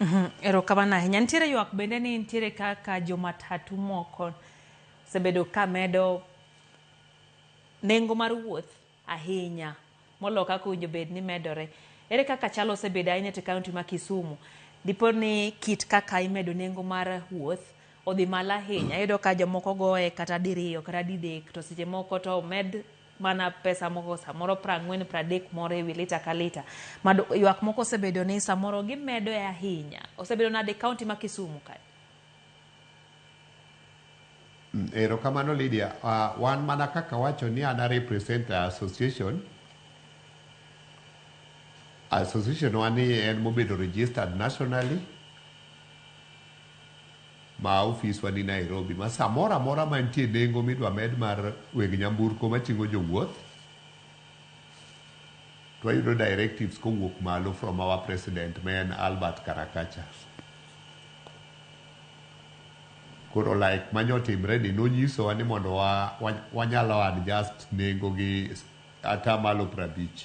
Mhm, Erokamano ahinya. Nitiere ywak bende ni nitiere kaka jomatatu moko osebedo ka medo nengo mar wuoth ahinya molo kaka owinjo bed ni medore. Ere kaka chal osebedo ahinya to kaunti ma Kisumu? Dipo ni kit kaka imedo nengo mar wuoth odhi malo ahinya. Iyudo ka jomoko goye kata diriyo kata didek to seche moko to omed mana pesa moko samoro prang'wen pradek moro e wi lita ka lita mad ywak moko osebedo ni samoro gimedo e ahinya osebedo nade kaunti ma kisumu kae Mm, Erokamano Lydia. Ah, wan mana kaka wacho ni an a represent a association. Association wani en mobedo registered nationally. ma ofiswa ni Nairobi ma samoro amora mantie nengo midwa med mar weg nyamburko mating'o jowuoth to wayudo directives kowuok malo from our president ma en Albert Karakacha. Koro like manya otimre ni nonyisowa ni mondo wa- wa- wanyalo adjust nengo gi atamalo prabich.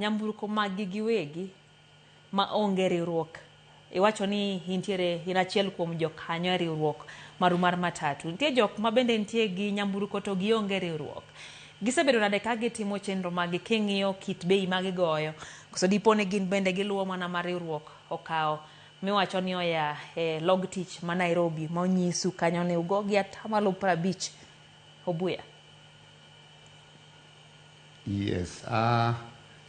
nyamburko maggi giwegi ma onge riwruok iwacho ni intiere in achiel kuom jokanyo e riwruok maru mar matatu nitie jok ma bende nitie gi nyamburko to gionge riwruok gisebedo nade ka gitimo chenro maggi king'iyo kit bei ma gigoyo koso dipo ni gin bende giluwo mana ma riwruok okawo miwacho ni oya e log tich ma Nairobi ma onyisu kanyo ni ugo gi atamalo prabich obuya Yes. Uh,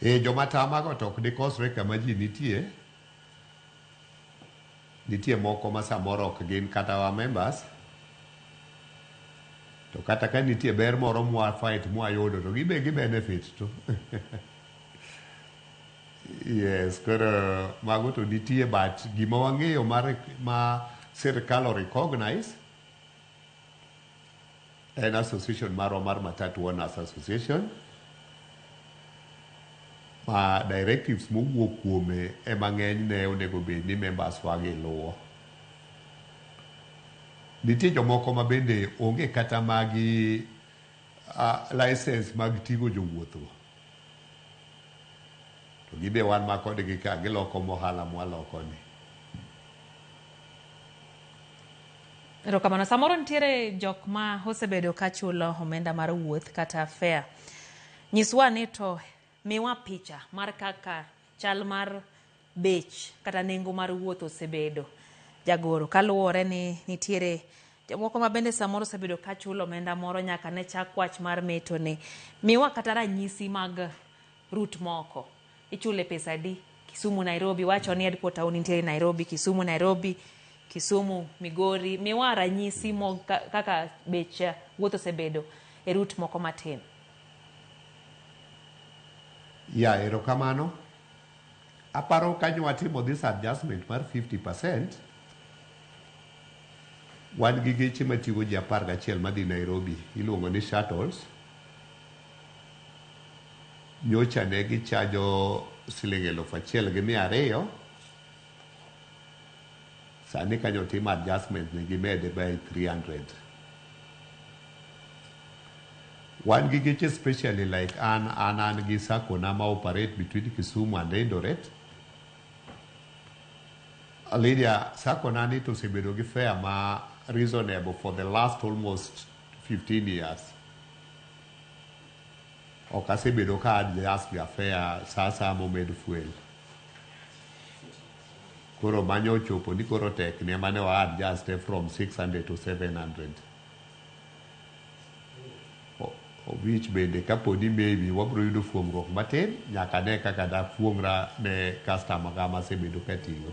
eh, joma tamago to ok dikosre kama ji nitie. Nitie moko ma samoro ok gin kata wa members. To kata ka nitie ber moro mwa fight mwa yudo to gibe gi benefit to. yes, koro mago to nitie but gima wang'eyo ma, ma sirkal o recognize en association marwa mar Matatu Owners Association ma directives mowuok kuome ema ng'enyne onego bed ni members wagi luwo. Nitie jomoko ma bende onge kata magi uh, license mag ting'o jowuothgo. To gibe wan ma kodgi ka giloko mohala mwalokoni. Erokamano. Samoro nitiere jok ma osebedo ka chulo omenda mar wuoth kata fare. Nyiswa ni to miwa picha mar kaka chal mar bech kata nengo mar wuoth osebedo jagoro kaluwore ni nitiere jomoko ma bende samoro osebedo ka chulo omenda moro nyaka ne chak wach mar metoni. Miwa kata ranyisi mag route moko. Ichule pesa adi? Kisumu Nairobi wacho ni headquarter taon nitiere Nairobi, Kisumu Nairobi, Kisumu Migori. Miwa ranyisi mo kaka bech eh, wuoth osebedo e rut moko matin. Ya erokamano. Aparo kanyo watimo this adjustment mar 50%. Wan gi geche matigo ji apar gachiel madhi Nairobi iluongo ni shuttles. nyocha ne gichajo siling' elufu achiel gi mia ariyo sani kanyo timo adjustment ne gimede by 300 wan gi geche specially like an an an gi sako na ma operate between Kisumu and Eldoret Lydia sako na ni to osebedo gi fare ma reasonable for the last almost 15 years ok asebedo ka adjust ga fare saa saa momed fuel koro manya ochopo ni koro tek ne mane wa adjust from 600 to 700 which bende kaponi maybe wabiro yudo fuong'ruok matin nyaka ne kaka dafuong'ra ne customer ga masebedo katiyo